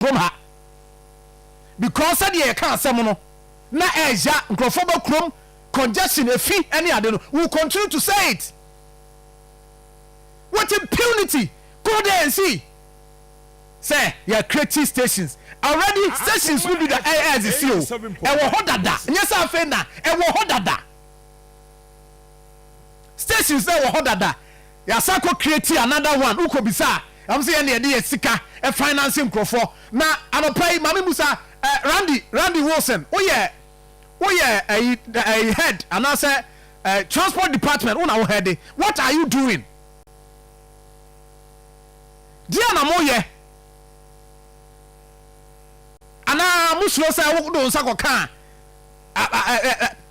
kurom ha because sɛdeɛ yɛka asɛm no na ɛɛya nkurɔfoɔ ba kurom congestion efi ɛne ade no we will continue to say it with impunity go there and see sɛ yɛ creative stations already stations no bi da ɛyɛ ɛzisi o ɛwɔ hɔ dada nyɛ sɛ afei na ɛwɔ hɔ dada stations na ɛwɔ hɔ dada. Yasa kɔ create another one wokɔ bisa a ɛm sɛ yɛn deɛ yɛde yɛ sika finance nkorɔfoɔ na anɔpa yi mame busa eh Randy Randy Wilson woyɛ woyɛ ɛyi ɛyi head anaasɛ eh transport department wona wo head what are you doing deɛ na mo yɛ anaa mo suro sɛ wo do nsa kɔ kaa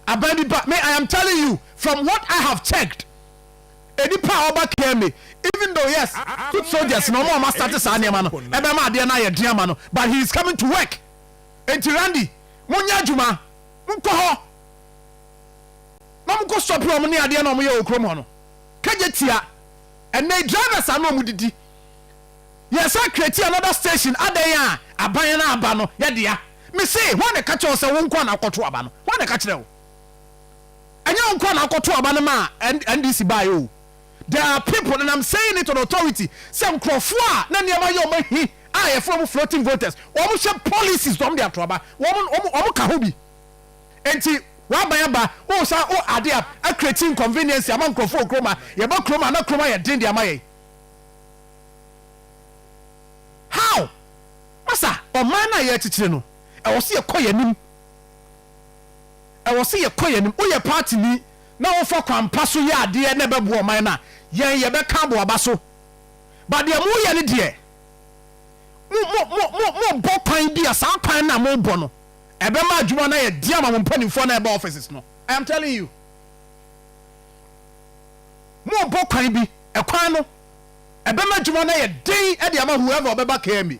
aban bi ba me I am telling you from what I have checked. Nipa a ɔba care me even though yes foot soldiers na ɔmo a ɔmo asate saa nneɛma no ɛbɛma adeɛ no ayɛ den ama no but he is coming to work enti Randy monyɛ adwuma monkɔ hɔ na ɔmo nkɔ sɔpe ɔmo ne adeɛ na ɔmo yɛ wɔ kurom hɔ no kagye tia ɛnɛyi drivers a na ɔmo didi yɛsan create another station adɛn a aban no aba no yɛdea mese hwan na ɛka kyerɛ wo sɛ wo nkoa na wokɔto aba no hwan na ɛka kyerɛ wo. Ɛnyɛ wo nkoa na wokɔtoo aba no maa NDC baeɛ o. There are people, and I'm saying it on authority, sɛ nkorɔfoɔ a na nneɛma yɛ wɔn ahi a yɛfrɛ wɔn floating voters, wɔn hyɛ policies na wɔn de ato aba, wɔn wɔn ka ho bi. Enti w'aban aba, wosan wo ade a acreate inconvenience ama nkorɔfoɔ wɔ kurom a, yɛba kurom a na kurom ayɛ den de ama yɛn. How? Masa, ɔman no a yɛrekyekyere no, ɛwɔ sɛ yɛkɔ yɛn anim. Ɛwɔ sɛ yɛkɔ yɛn anim. Woyɛ paatini na wofa kwan pa so yɛ adeɛ na ɛbɛboa ɔman no a, yɛn yɛbɛka abɔ w'aba so. But deɛ moreyɛ no deɛ, mo mo mo mo mobɔ kwan bi a saa kwan no a mobɔ no, ɛbɛma adwuma no ayɛ den ama mo mpanimfoɔ no a ɛba offices no. I am telling you. Mobɔ kwan bi, ɛkwan no, ɛbɛma adwuma no ayɛ den de ama whoever ɔbɛba KMA.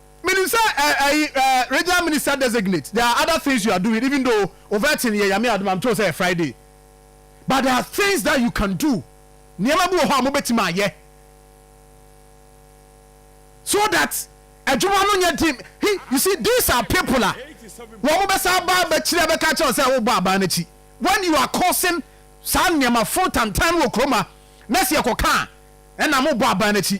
Menim sɛ ɛ ɛyi ɛ regional minister designate there are other things you are doing even though overting yɛ Nyame adom a metew sɛ yɛ Friday but there are things that you can do nneɛma bi wɔ hɔ a mobɛtumi ayɛ so that adwuma no nyɛ den he you see these are people a wɔn bɛsa aba abɛkyiri abɛka kyerɛ wo sɛ wobɔ aban no akyi when you are causing saa nneɛma foro tantan no wɔ kurom ha na sɛ yɛkɔka a ɛna mobɔ aban no akyi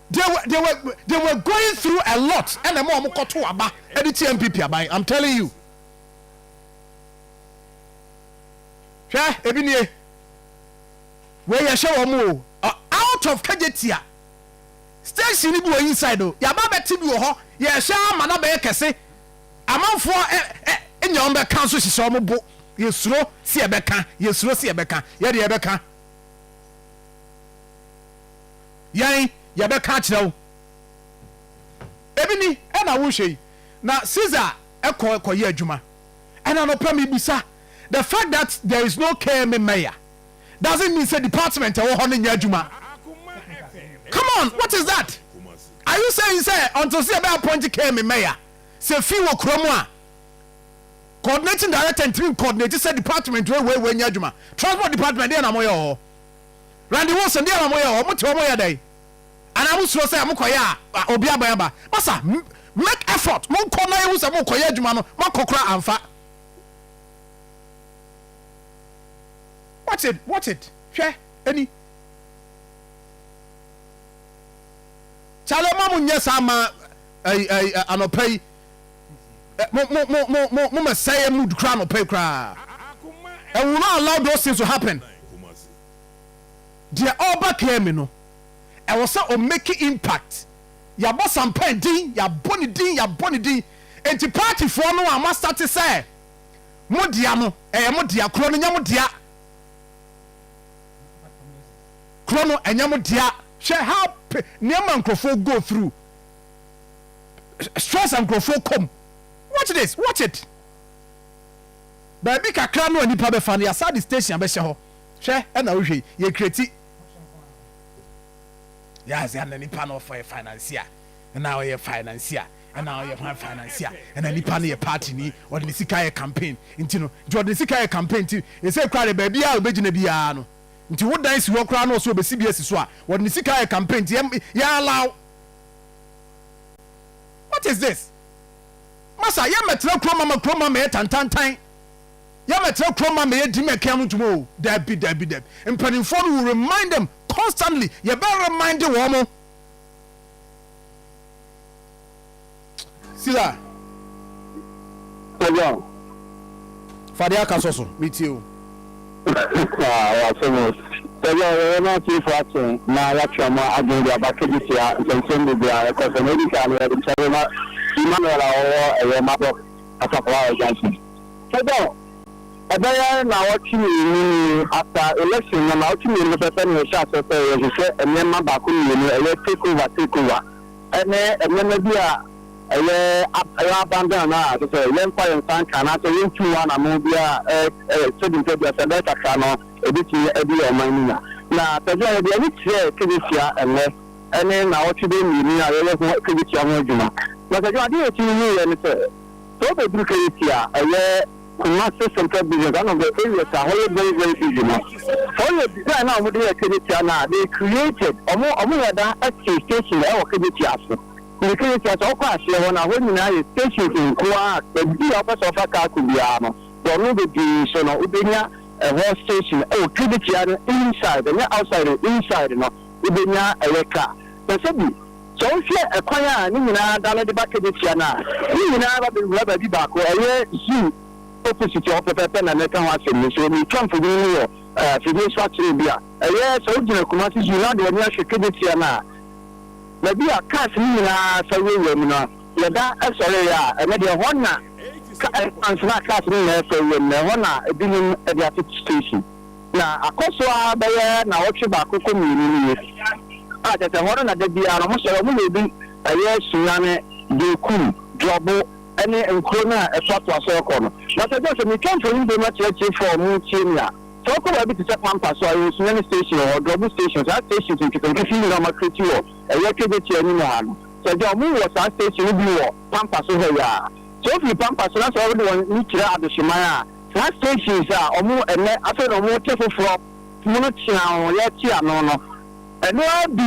They were they were they were going through a lot ɛna ɛma wɔn kɔto aba ɛde tia NPP aban I'm telling you hwɛ ebi nie wei yɛhyɛ wɔn o ɔ- out of kagyetia station ni bi wɔ inside o yaba bɛte bi wɔ hɔ yɛhyɛ ama na bɛyɛ kɛse amanfoɔ ɛ ɛ nya wɔn bɛka nso hyehyɛ wɔn bo yɛsuro si yɛbɛka yɛsuro si yɛbɛka yɛde yɛbɛka Yɛn, yɛbɛka akyerɛ wo. Ebi ni, ɛna wohwɛ yi. Na Caesar kɔ kɔyɛ adwuma. Ɛna anɔpa mibisa, the fact that there is no KMA mayor doesn't mean sɛ department ɛwɔ hɔ no nyɛ adwuma? Come on, what is that? Are you saying sɛ until sɛ yɛbɛ appoint KMA mayor, sɛ fee wɔ kura mu a, coordinating director ntumi ncoordinate sɛ department wei wei wei nyɛ adwuma? Transport department deɛ na moyɛ wɔ hɔ? Randy Wilson, Deɛ wɔn yɛ, wɔn te wɔn yɛ dɛn? Anaa mo suro sɛ mo kɔ yɛ a obi abɛn aba? Masa, Make effort, mo nkɔ na yɛ hu sɛ mo kɔ yɛ adwuma no, mo akɔ koraa anfa. Watch it, watch it, hwɛ, ɛni. Charlie, mo a mo nyɛ saa ma ɛyi ɛyi anɔpa yi. eh, mo, mo, mo, mo, mo, mo ma sɛɛ mood kra anɔpa yi koraa. And we will not allow those things to happen. Deɛ ɔba kɛɛ me no, ɛwɔ sɛ o make impact. Yɛabɔ Sampan din, yɛabɔ ne din, yɛabɔ ne din. Enti partyfoɔ no a moastate sɛ mo dea no, ɛyɛ mo dea, korɔ no nyɛ mo dea. Korɔ no ɛnyɛ mo dea. Hwɛ how nneɛma nkurɔfoɔ go through. stress a nkurɔfoɔ kɔ mu. Watch this, watch it. Baabi kakra no a nipa bɛfa no, yɛasan de station abɛhyɛ hɔ. Hwɛ ɛna wohwɛ yi, yɛ create. Yes, ɛna nipa no ɔfɔ yɛ financier. Ɛna ɔyɛ financier. Ɛna ɔyɛ hwan financier. Ɛna nipa no yɛ party ni, ɔde ne sika yɛ campaign. Nti no, nti ɔde ne sika yɛ campaign nti, ɛsɛ kura de baabi a ɔbɛgyina biara no. Nti wo dan si hɔ koraa na ɔsɛ ɔbɛsi bi asi so a, ɔde ne sika yɛ campaign nti yɛ allow. What is this? Masa yɛ mɛtena kuro ma ma kuro ma mɛyɛ tantantan yɛ mɛtena kuro ma mɛyɛ di mɛkɛn no dwuma o dabi dabi dabi mpanimfoɔ no will remind them constantly yɛ bɛ remind wɔn mo. Sila. Sɛdeɛ o. Fa deɛ aka sɔ so, metie o. Haa, w'asɛm o. Sɛdeɛ o, yɛyɛ na atiefoɔ ate na yɛatwe wɔn adwene de aba ka bi tia nsɛnsɛm bebree a ɛkɔ so. Nea edi kan no, yɛde kyɛde ma Emmanuel a ɔwɔ ɛyɛ Mabɔ Asafo Hawaii Junction. Sɛdeɛ o, ɛbɛyɛ nnawɔtwe mmienu ni, after election no, nnawɔtwe mmienu pɛpɛ na yɛhyɛɛ aseɛ sɛ yɛhwehwɛ nneɛma baako mmienu, ɛyɛ take over, take over. ne nneɛma bi a ɛyɛ ɛyɛ abandon a ɛsɛ sɛ yɛmfa yɛn nsa nka anaasɛ yɛntu hɔ anammɔn biara sɛdeɛ nti bia sɛ ɛbɛyɛ kakra no ɛbɛtumi adi yɛn ɔman no nya. Na Tadzia yɛde ani kyerɛɛ Kejetia ɛnnɛ ne nnawɔtwe bɛyɛ mmienu a yɛyɛ ho Kejetia ho adwuma. Na Tadzia adeɛ a yɛtumi huiɛ ne sɛ, sɛ wobɛduru Kejetia a ɛyɛ. Kumasi central business one of the areas a hɔ yɛ very very busy no sɛ ɔyɛ design a wɔn de yɛ Kenetia no a they created wɔn wɔn yɛ da ɛte station ɛwɔ Kenetia ase ne Kenetia sɛ ɔkɔ aseɛ hɔ no a hɔ nyinaa yɛ stations nkoaa baabi a ɔpɛ sɛ ɔfa car kɔ biara no wɔn no bebree so no wobɛnya ɛhɔ station ɛwɔ Kenetia no inside ɛnyɛ outside inside no wobɛnya ɛyɛ car sɛ sɛ bi. Sɛ wohwɛ ɛkwan a ne nyinaa da no de ba Kedesia no a, ne nyinaa ba bɛwura baabi baako, ɛyɛ zoo opposite hɔ pɛpɛɛpɛ na mɛka ho asɛm yi. So metwa mfonini no wɔ afidie so akyerɛ obi a? Ɛyɛ sɛ wogyina Kumasi Zoo na wode w'ani ahwɛ Kedesia no a, baabi a cars no nyinaa sa wurawura mu no, yɛda sɔree a, ɛno deɛ ɛhɔ na, ansa na cars no nyinaa refa wuram no, ɛhɔ na binom de ate station. Na akɔ so ara bɛyɛ naawɔtwe baako kɔ mmienu nie, a kyerɛ sɛ ɛhɔ no na da biara no wɔsɔre, wɔyɛ obi, ɛyɛ Sunyani, Bekum, Dwɔbo ne nkuro no a ɛtoatoa so rekɔ no. Na sɛ ɛsɛ sɛ metwa mfoni bio ma atiatiefo a wɔretie me a, sɛ wokɔ baabi te sɛ Pampa so a, yɛwɔ Sunyani station wɔ hɔ, Dwɔbo station, saa stations nketenkete yi nyinaa a wɔakreti wɔ ɛyɛ Kegyekyee anim ha no, sɛ gya a wɔwɔ saa station no bi wɔ Pampa so hɔ yi ara. Sɛ wofiri Pampa so na sɛ wɔde wɔn ani kyerɛ Adehyeman a, Saa stations a wɔwɔ ɛnnɛ afei na wɔte foforɔ mu no teaa wɔn yɛ te ano no. Ɛno ara bi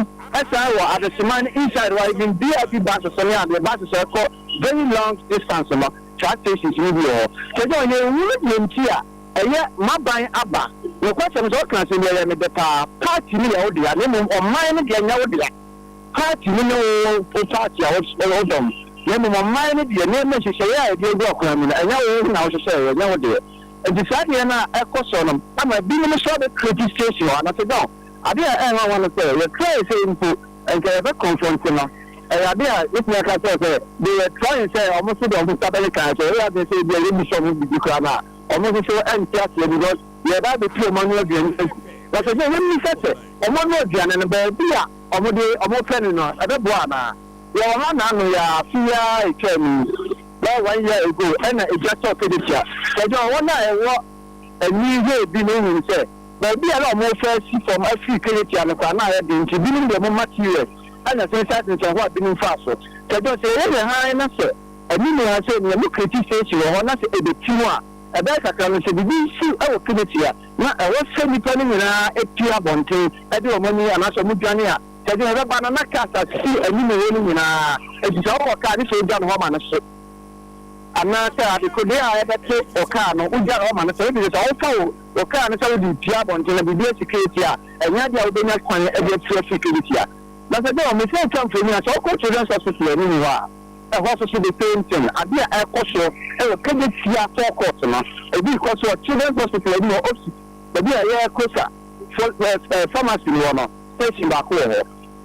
san wɔ adesemma ne inside hɔ a even VIP buses ne adeɛ buses a ɛkɔ very long distance no saa stations no bi wɔ hɔ. Kyerɛ sɛ ɔyɛ nhunu deɛ nti a ɛyɛ m'aban aba. Nokwasɛm sɛ woka asɛm bi a ɛyɛ me dɛ paa, party no yɛ wo dea na mmom ɔman no deɛ nyɛ wo dea. Paati no ne wo wo paati a wodɔ no, na mmom ɔman no deɛ, nneɛma nhyehyɛeɛ a ɛde agu akwan mu no, ɛnyɛ wo ho na wohyehyɛeɛ, ɛnyɛ wo deɛ. Nti saa adeɛ no a ɛkɔ soɔ no ama binom nso abɛ create station wɔ ha. Na Sedao, adeɛ a ɛyɛ nwanwa ne sɛ, yɛ try sɛ mpo nka yɛbɛ confronte no, ɛyɛ adeɛ a mɛtumi aka akyerɛ wo sɛ, they were trying sɛ wɔn nso deɛ wɔn nsa bɛkeka, sɛ ɛyɛ adwene sɛ ebia yɛbisa wɔn biribi koraa no a, wɔn nso so nte aseɛ because. Yɛɛ Bible-tu a wɔanoa aduane no gu, na seesei yemmisa sɛ, wɔanoa aduane no baabi a wɔde wɔpɛ no no, ɛbɛboa anaa? Yɛwɔ ha nnaano yi ara, afe yi ara a etwaa mu yi, bɛyɛ one year ago, ɛna egya tɔɔ Kedesia. Wɔgyama wɔn a ɛwɔ ani hwɛ bi no hui sɛ, baabi a na wɔrefa asi fam afiri Kedesia no koraa na ayɛ den nti, binom de wɔn materials anya sensɛnsensɛn hɔ a binom mfaa so. Sɛ yɛyɛ yɛn hann na sɛ anim ha sei no yɛn mu kritisteesi wɔ hɔ na sɛ ebetiw a, Ɛbɛyɛ kakra no, sɛ biribi si wɔ Filipi a, na ɛwɔ sɛ nnipa no nyinaa tu abɔnten de wɔn ani anaasɛ wɔdwane a sɛ deɛn ɛbɛba no, na cars a sisi anim hɔ no nyinaa, enti sɛ wowɔ car ne sɛ wogya no hɔ ma no so anaasɛ adekodeɛ a ɛbɛto wo car no, wogya no hɔ ma no so. Ɛfiri sɛ sɛ wofa wo wo car no sɛ wode retua abɔnten na biribi asi Filipi a, ɛnyɛ adeɛ a wobɛnya kwan de afiri afiri Filipi a. Na sɛ deɛ wɔn sɛ wotwa mfoni a, sɛ wokɔ Children's Hospital anim hɔ a, Ɛhɔ nso so the same thing, ade a ɛrekɔ so wɔ Kejetia Four Court no, ebi rekɔ so wɔ Children's Hospital anim hɔ opsit baabi a ɛyɛ Kosa fo pharmacy no wɔ no, station baako wɔ hɔ.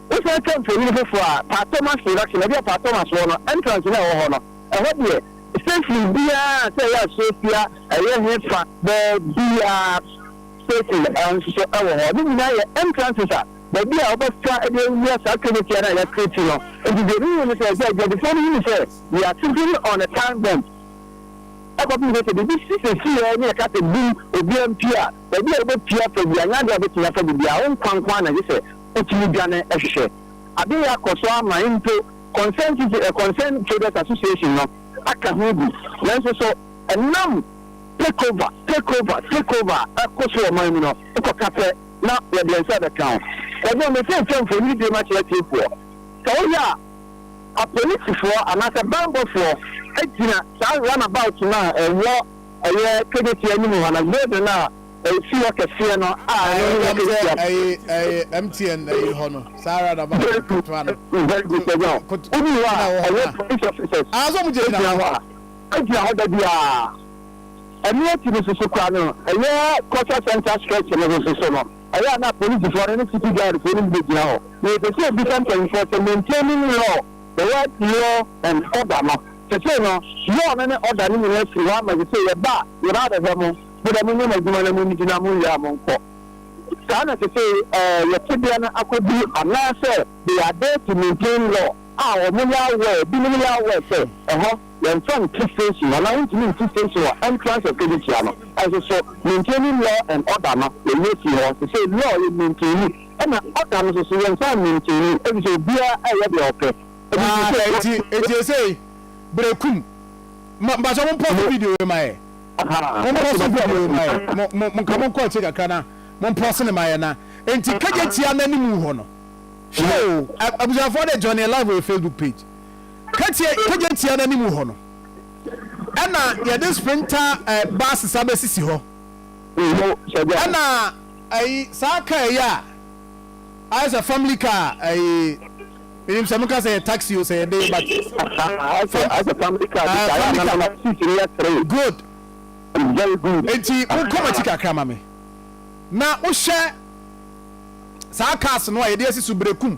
Wosan twa mfonini foforɔ a, Pa Thomas Production, baabi a Pa Thomas wɔ no, entrance no a ɛwɔ hɔ no, ɛhɔ deɛ, station biara a sɛ ɛyɛ Asofia, ɛyɛ hefa, baabiara, station nso so wɔ hɔ. Ne nyinaa yɛ entrances a. baabi a wɔbɛfa de awia saa Trinity no a yɛakreti no. Enti deɛ mehu ne sɛ, ebia adwadifoɔ no hunu sɛ we are simply on a time bomb kɔpem sɛ sɛ biribi si sɛsi ara ne yɛka sɛ bum obiara mpue a, baabi a wobɛpue afa biara nyɛ adeɛ a wobɛtumi afa bi biara, wo nkwa nko ara na gye sɛ wotumi dwane hwehwɛ. Ade reyɛ akɔ so ama mpo Concerned Citi, eh, Concerned Traders Association no aka ho bi, nanso so ɛnam takeover, takeover, takeover a ɛkɔ so wɔ ɔman mu no, wokɔka pɛ na wɔde nsa bɛka ho. Kwadwo, Merekenkan mfonini bio makyerɛ atiefoɔ. Sɛ woyɛ a, apolisifoɔ anaasɛ banbɔfoɔ gyina saa runabout no a ɛwɔ ɛyɛ KJT anim hɔ no, building no a ɛsi hɔ kɛseɛ no a ɛno ne yɛn KJT app. Ɛyɛ ɛyɛ ɛyɛ MTN ɛyi hɔ no, saa runabout Very good, ketewa no. very good, Kwadwo. Koto Wodu hɔ a, ɛna ɛwɔ hɔ ɛyɛ no. police officers Anaasɛ wɔn gyinagyina gyina hɔ hɔ a? a, ɛgyina hɔ da biara. Ɛno akyi no nso so koraa no, ɛyɛ Culture Centre stretch no nso so no, ɛyɛ a na polisifo no ne city guardfo no begyina hɔ. Na yɛpɛ sɛ yɛbisa mpanyimfo sɛ, Maintaining law, the word law and order no, sesei no law no ne order no nyinaa firi hɔ ama sesei yɛba a yɛba abɛhwɛ mo, mode monyɛ mo adwuma na munnidi na monwia a monkɔ? Saa na sesei ɛɛ yɛ tebea no akɔduru anaasɛ they are there to maintain law a wɔyɛ aware, binom yɛ aware sɛ ɛhɔ. Yɛmfa nto station anaa wontumi nto station wɔ entrance of Kedikia no nso so maintaining law and order no yɛyɛ fii hɔ sesei law yɛ maintaini ɛna order no nso so yɛnsan maintaini efisɛ obiara ɛyɛ deɛ ɔpɛ ɛde firi sɛ Enti enti esei berekum ma mpakyɛ mo mpɔ so video wei ma yɛ mo mpɔ so video wei ma yɛ mo mo mo nka mo nkɔ akyire kakra na mo mpɔ so ne ma yɛ na enti Kegyetia n'anim hɔ no hwɛ o abusuafoɔ de join yɛ live wɔ yɛ Facebook page. Katia kagya tia no anim hɔ no, ɛna yɛde sprinter eh, bases abɛsisi hɔ. Ɛna ɛyi saa kaa yi a ayɛ sɛ family car ɛyi menim sɛ moka sɛ yɛ taxi o sɛ yɛde but good nti mokɔ makyi kakra ma me na wohyɛ saa cars no a yɛde asi so berekum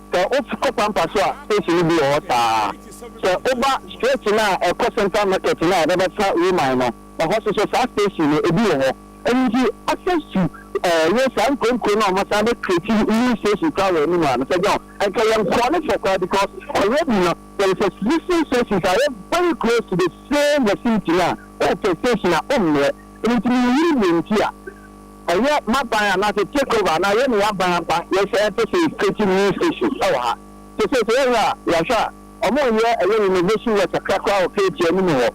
Sɛ wo kɔ Pampa so a station no bi wɔ hɔ saa. Sɛ wo ba stretch no a ɛkɔ central market no a ɛbɛba fa Roman no, ɛhɔ so so saa station no ebi wɔ hɔ. Ɛno nti access to eh, yɛ saa nkuro nkuro no a wɔn asan bɛ create new station koraa wɔ anim a Mister John, ɛnka yɛn kɔɔ ne fɛ koraa because already no there is existing stations a ɛyɛ very close to the same vicinity no a wopɛ station a wommrɛ. Ɛno nti meyiri deɛ nti a. Ɛyɛ m'aban anaasɛ take over anaa yɛne yɛn aban aba yɛ sɛ ɛpɛ sɛ yɛ create new station ɛwɔ ha nti seesei yɛ hwɛ a yɛahwɛ a ɔmo nyɛ ɛyɛ renovation work kakra koraa wɔ KT anim hɔ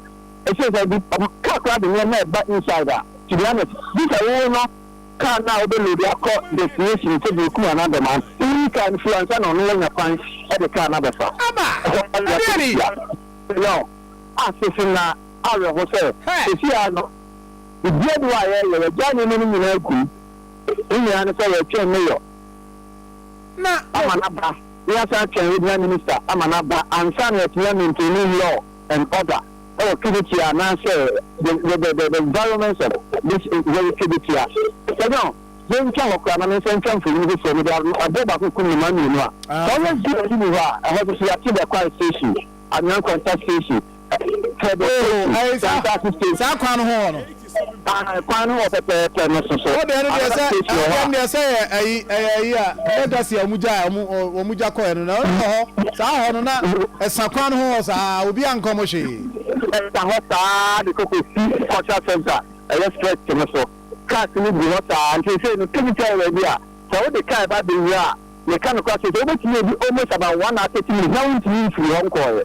ɛsiane sɛ bi ɔmo car koraa de nneɛma ɛba inside a to be honest bisa wo wo no car no a wobɛ load akɔ destination sɛ deɛ Kumah anaa Dɔmaa wo yi car no firi hɔ ansa na ɔno wanya kwan ɛde car no abɛfa Aba! ɛhɔ a yɛakɔ Ɛdeɛ ni! hyia yɛn a sese na awerɛho sɛ Hɛ! seesei ara no. Bibia ni hɔ a yɛyɛ, yɛgyaa nneɛma no nyinaa kum. Ne nyinaa ne sɛ yɛretwɛn mayor ama no aba, na yɛasan atwɛn regional minister ama no aba ansa na yɛatumi a maintaini law and order wɔ Kibitia anaasɛ the the the the environments of this very Kibitia. Sɛdeɛ yɛntwa hɔ koraa na me nsa ntwa mfonini foforɔ mede aboɔ baako kum nnomaa mmienu a, sɛ ɔyɛ zero bi ni hɔ a, ɛhɔ nso so yɛate bɛ Kwae station, Anyankwanta station, Hwɛ de Oh, Stacy, ɛyɛ saa. Santase Stacy. Saa kwan no ho hɔ no. Ah, kwan no wɔ pɛpɛɛpɛ no so so. Ɔde ɛno deɛ Another sɛ Stacy wɔ hɔ ɛdeɛm a. deɛ sɛ yɛ ayi ɛyɛ ayi a legacy a wɔn gya a wɔn wɔn gya kɔɛ no na ɛno wɔ hɔ saa hɔ no na ɛsa kwan no ho hɔ saa obi a nkɔm hwee. Ɛsa hɔ saa de kɔkɔ si cultural center ɛyɛ stretch no so. Cars no gu hɔ saa nti sɛ no tumi sɛ ɛwɔ bi a sɛ wode car ba bɛwura a meka no kora sɛ sɛ wobɛtumi adi almost about one hour thirty minutes na wontumi mfiri hɔ nkɔɔɛ.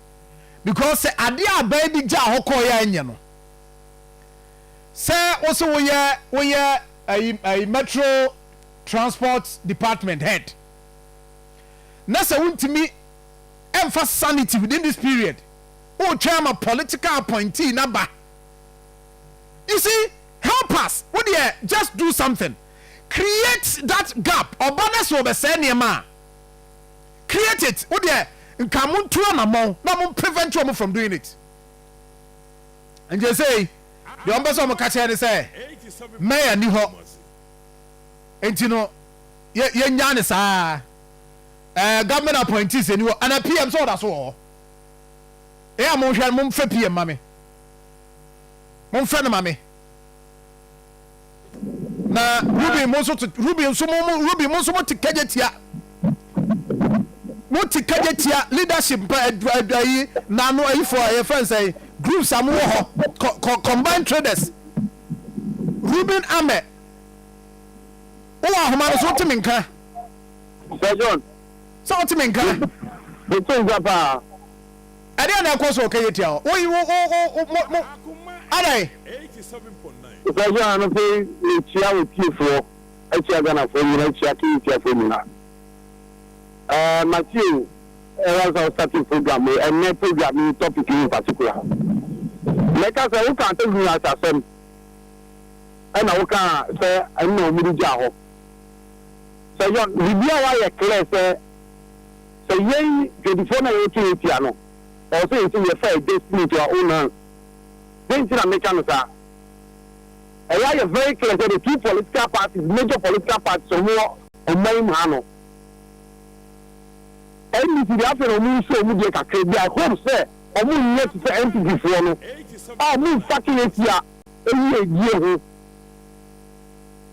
because sɛ adeɛ a abaa bi gyaa hɔ kɔɔeɛ a ɛnyɛ no sɛ wo se woyɛ woyɛ ayi ayi metro transport department head na sɛ wontumi ɛmfa sanity within this period wotwɛn ama political appointee na ba you see help us wo deɛ just do something create that gap ɔba na sɛ ɔbɛsɛe nneɛma a Create it wo deɛ nka mo ntu anamɔn na mo prevent wɔn from doing it nti sei deɛ wɔn pɛ sɛ wɔn ka kyerɛ ne sɛ mayor ni hɔ nti no yɛ yɛ nyaa ne saa ɛɛ government appointees ni hɔ ana pm sɛ ɔda so wɔ hɔ ɛyɛ a mo nhwɛ mo nfɛ pm ma me mo nfɛ no ma me. Na Ruben mo nso te Ruben nso mo mo Ruben mo nso mo te kagye tia. Mo te kagye tia leadership mpa adwa adwa yi na ano ayifo a yɛfrɛ no sɛn groups a mo wɔ hɔ co- co- combined traders. Ruben Amɛ. Wowɔ ahoma no so wote me nka Sir John, sɛ wote me nka. mete nka paa. Ɛdeɛn na ɛkɔ so ɔka yɛ tia hɔ wo yi wo wo wo wo mo mo adɛn. Ɔsaase a anɔpɛyi mekyia wo tiefoɔ akyia Ghanafoɔ nyina akyia King tiafoɔ nyina ɛɛ matie o ever since wo startee program wei ɛnɛ program yi topic yi in particular mɛka sɛ wokaa Tagwini Asa asɛm ɛna wokaa sɛ ɛno na wɔn de gyaa hɔ sɛ yɔn biribiara wayɛ clear sɛ Sɛ yɛn dwadifoɔ no a yɛreto yɛn tia no, ɛwɔ sɛ yɛsɛ yɛfa yɛn destiny into our own hands. Dɛn nti na meka no saa? Ɛyɛ ayɛ very clear sɛ the two political parties, major political parties a wɔwɔ ɔman yi mu ha no, NDC deɛ afei na wɔn nso wɔn deɛ kakra bi, I hope sɛ wɔn nyɛ te sɛ NPP foɔ no a wɔn mfake yɛn tia yiedie ho,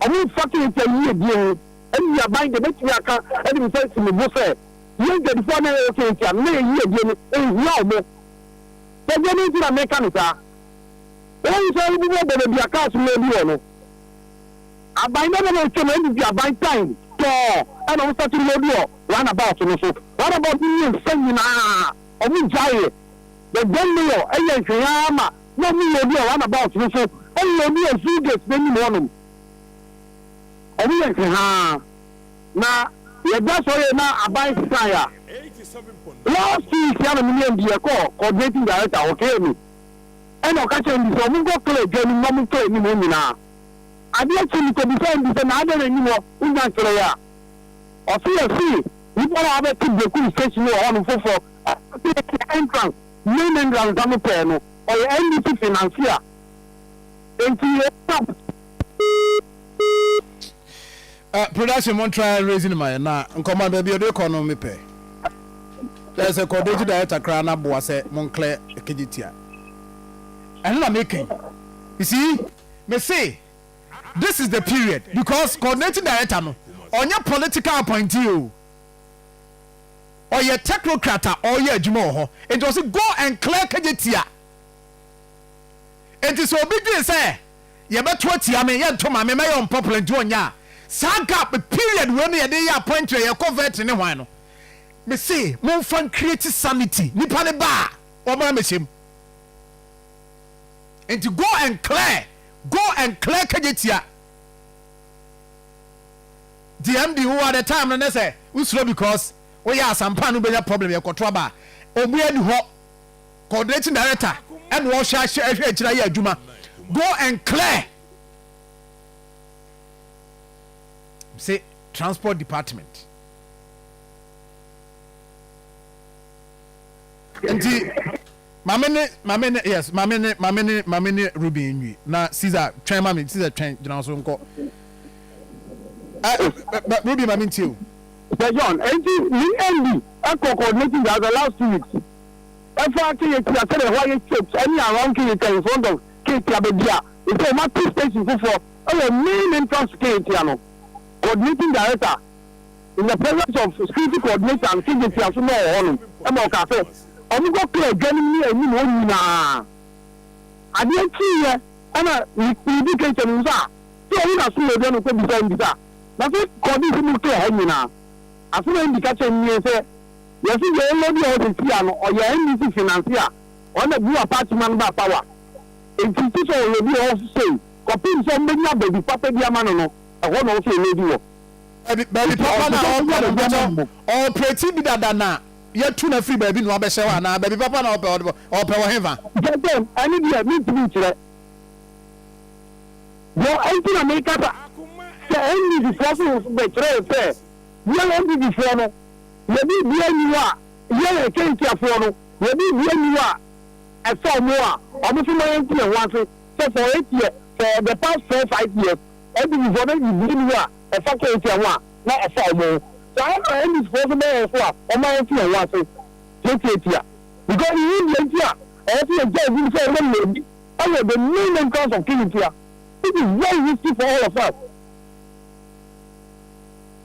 wɔn mfake yɛn tia yiedie ho. Nnuaban de, mɛtumi aka de me nsa asi me bo sɛ, yɛn Dwadifo a na yɛwɔ Caintia no, na yɛn yiedie no, ɛnhia wɔn. Bɛdeɛ bɛn nti na meka no saa? Wonhu sɛ wobubu ɔbɔn baabi a cars mmaa bi wɔ no? Aban bɛn na na ɛtwam a nnuduaban tan tɔɔ ɛna wɔn sakyere no bi wɔ roundabout no so? Roundabout no mmiɛnsa nyinaa, wɔgyaeɛ. The then mayor yɛ nhwee ara ma na wɔloodi wɔ roundabout no so, ɛloodi wɔ Zoo Gate no anim hɔnom. Ɔmo yɛ nkehaa na yɛda sɔre yɛ na aban sesae a. Last two weeks yi ana me ne MD yɛ kɔɔ coordinating director hɔ kɛɛ me ɛna ɔka kyerɛ MD sɛ ɔmo nkɔ clear dwa anim na ɔmo mfa anim hɔ nyinaa. Adeɛ kye me kɔ bisa MD sɛ na adɛn na anim hɔ wo nya nkyerɛɛ a? Ɔse yɛ se nipa no a wabɛte Bekum station no wɔ hɔ nom foforɔ ɔse yɛ se entrance main entrance a mo pɛɛ no ɔyɛ NDC financier nti yɛ. Uh, production mo try raising my na nkɔmɔ baabi ɔde kɔ no mepɛ dɛ sɛ kɔdɔgye director koraa na boa sɛ mo nklɛ kegye tia ɛno na mekɛn you see me se this is the period because coordinating director no ɔnyɛ political appointee o ɔyɛ technocrat a ɔyɛ adwuma wɔ hɔ nti ɔse go and clear kegye tia nti sɛ obi dwen sɛ yɛbɛto atia me, yɛnto mma me, mɛyɛ unpopular nti ɔnyɛ a, saa gap period wei no yɛde reyɛ appointment a yɛkɔ vetting ne hwan no. Me se momfa ncreate sanity, nipa no ba a ɔmmra mmɛhyɛ mu. Nti go and clear, go and clear Kagyetia. DMD wowɔ at the time no nɛ sɛ wosuro because woyɛ asampa a na wobɛnya problem yɛkɔto aba a ɔmo ani hɔ. coordinating director ɛna ɔhyɛ ahyɛ ɛhwɛ akyira yɛ adwuma go and clear say transport department nti maame ne maame ne yes maame ne maame ne maame ne ruben nwi na caesar twɛn maame caesar twɛn gyina so nkɔ ɛ eh, eh, eh, ruben maame ntie o. sɛ john eti ni nd ɛkɔ coordinating director last two weeks Ɛfa Keyetia sɛdeɛ ɛhɔ ayɛ shaped ɛne around Keyetia in front of Keyetia baabi a ɛsɛ wɔn ato station foforɔ ɛwɔ main entrance to Keyetia no Coordinating Director in the presence of Security Coordinator and Keyetia nso na ɔwɔ hɔ nom ɛma ɔkaa sɛ wɔn kɔ kura adwanom ne anim hɔ nyinaa adeɛ kyiiɛ ɛna medi Keyetia no mu sɛ a sɛ ɔwo na so yɛdua no kɔ bisa mbisa na sɛ kɔɔde sɛ mu kura ha nyinaa asɛm a Andy ka kyerɛ nie sɛ Yɛse deɛ ɔyɛ bi a ɔyɛ sɛsi a no ɔyɛ NDC finance a ɔno na Buwa Partyman no baa power nti nti sɛ ɔyɛ bi a ɔwɔ so sei kɔpem sɛ ɔmbɛnya baabi papa bi ama no no ɛhɔ na ɔwɔ sɛ ɔlɛdi wɔ Baabi baabi papa no a ɔpɛ no mpakyɛ ɔɔprɛti bi dada na yɛtu no afiri baabi na wabɛhyɛ hɔ anaa baabi papa na ɔpɛ ɔde ɔɔpɛ wɔ henfa? Mpakyɛw ɛno deɛ mentumi nkyerɛ deɛ ɛnti na mekasa sɛ NDC foɔ so bɛkyerɛ wo sɛ yɛn NDC foɔ no Yɛ biribiara nni hɔ a yɛn, Kentiafoɔ no, yɛ biribiara nni hɔ a ɛfa wɔn a wɔso ma yɛnte yɛn ho ase sɛ for eight years, for the past four, five years, Amidifoɔ no, biribiara nni hɔ a ɛfa Kentia ho a na ɛfa wɔn ho. Saa ara na Amidifoɔ nso bɛyɛ yɛn so a wɔma yɛnte yɛn ho ase tiatiatia. Because yɛn nim deɛ nti a ɛwɔ sɛ yɛgyae binom sɛ wɔmmɔ yɛn ani wɔ the main entrance of Kentia, which is very risky for all of us.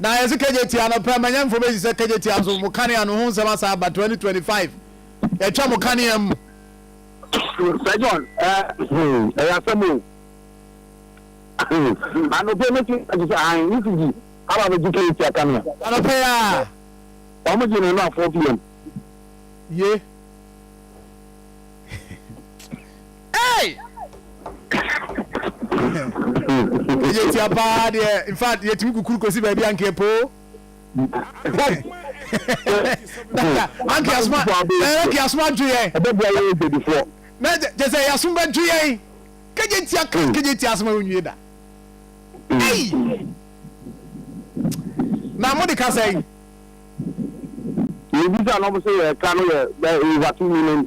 Na yɛse kagyatia no pɛ ma nyɛmfo bɛsi sɛ kagyatia nso mo kanea no ho nsɛm asan aba 2025 yɛtwa mo kanea mu. Sɛ John ɛyɛ asɛm o anɔpɛ no ti agye sɛ ahan ne sigi aba bɛgye kagyatia kanea anɔpɛ a wɔn gye no no a 4 pm ye. Hey! Ɛyɛ tia paa deɛ in fact yɛtumi kukuru kɔsi baabi ankeɛ poo. Ankeɛ asoma ankeɛ asoma adwo yɛn. Ɛbɛbua yɛ ɛdwadifoɔ. Na kyɛ sɛ yɛasom bɛdwo yɛn. Kɛgye tia kɛgye hmm. tia asoma onwie da. Hey! Na mo de ka sɛn? Mebisa na ɔmo sɛ yɛ ka no yɛ yɛ wate nyinam.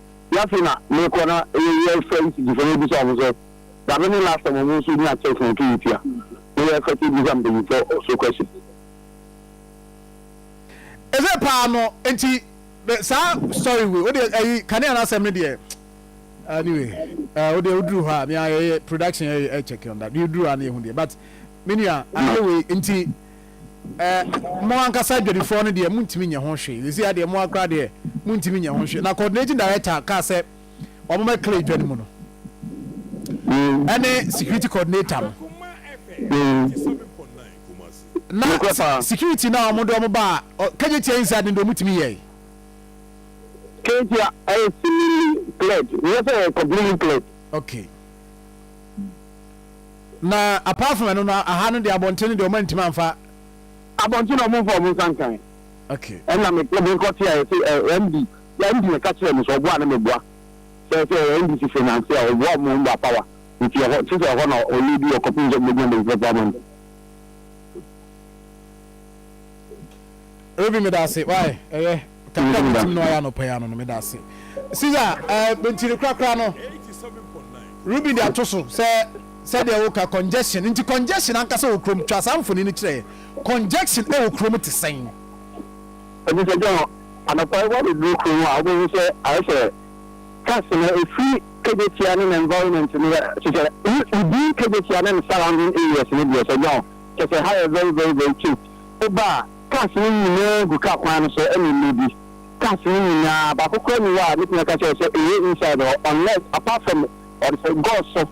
Wiase na mekɔ na yɛ fɛ yi sisi fɛ na ebisa ɔmo sɛ dabe ne last time ɔmo nso nya church na ɛtu tia na yɛ fɛ te bisa mpanyinfo so question. Eze paa no nti saa story wei wode ayi kanea no asɛm no deɛ anyway uh, wode woduru hɔ a mea yɛyɛ production yɛ check on that yɛduru a na yɛhu deɛ but menua adeɛ wei nti Eh, mo ankasa adwadifoɔ no deɛ montumi nyɛ ho hwee. Seesei adeɛ mo akora deɛ montumi nyɛ ho hwee. Na coordinating director kaa sɛ wɔn bɛ clear dwa no mu no ɛne security coordinator no. Na security na wɔn de wɔn ba a kagyetia yi nsa de wɔn tumi yɛ. Kagyetia ɛyɛ cleared, yɛ sɛ ɛyɛ completely cleared. Okay. Na apart from ɛno no aha no deɛ abɔnten no deɛ ɔma ntumi amfa. Abɔnten na ɔmo nfa ɔmo nsa nkan. Okay. Ɛna me kɔ me nkɔ te a yɛsi ɛ eh, MD yɛ MD na ka kyerɛ mi sɛ ɔboa na me boa sɛ sɛ ɛ MD si finance a ɔboa ɔmo ɔmo ba power nti ɛhɔ te sɛ ɛhɔ na ɔlɛ bi ɔkɔ pin sɛ ɔmo gyina bɛnfɛ pa man. Obi me da ase why ɛyɛ. Kakra me tim no ayɛ anɔpa yi ano no meda ase. Caesar eh, mentiri korakora no. Ruby de ato so sɛ sɛdeɛ woka congestion nti congestion ankasa wɔ kurom twa saa mfoni no kyerɛ yɛ congestion ɛwɔ kurom te sɛn. Ɛfisɛ John, anɔpa yi woabɛduru kurom a wobɛhu sɛ ayɛ sɛ cars no ɛfiri Kejetia ne ne environment no yɛ te sɛ within Kejetia ne ne surrounding areas no deɛ sɛ John kyɛ sɛ ha yɛ very very very cute. Woba a. Cars no nyinaa gu car kwan no so ɛne mmere bi. Cars no nyinaa, baako koraa nni hɔ a mɛtumi aka akyerɛ wo sɛ ɛyɛ inside hɔ unless, apart from wɔde sɛ Gulf so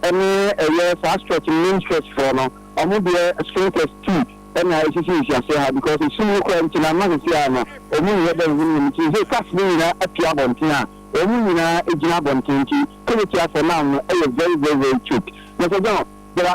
ɛne ɛyɛ saa stretch no, main stretch foɔ no, wɔn deɛ sprinklers ti ɛna ɛsisi nhyiaseɛ ha because ɛsum no koraa nti no ama sɛsei ara no wɔn nyɛ dɛ nhunu wɔn ti. Sɛsei cars no nyinaa apue abɔnten a wɔn nyinaa gyina abɔnten nti Kawatiafoɔ now no ɛyɛ very very very choked. Mr John, there are.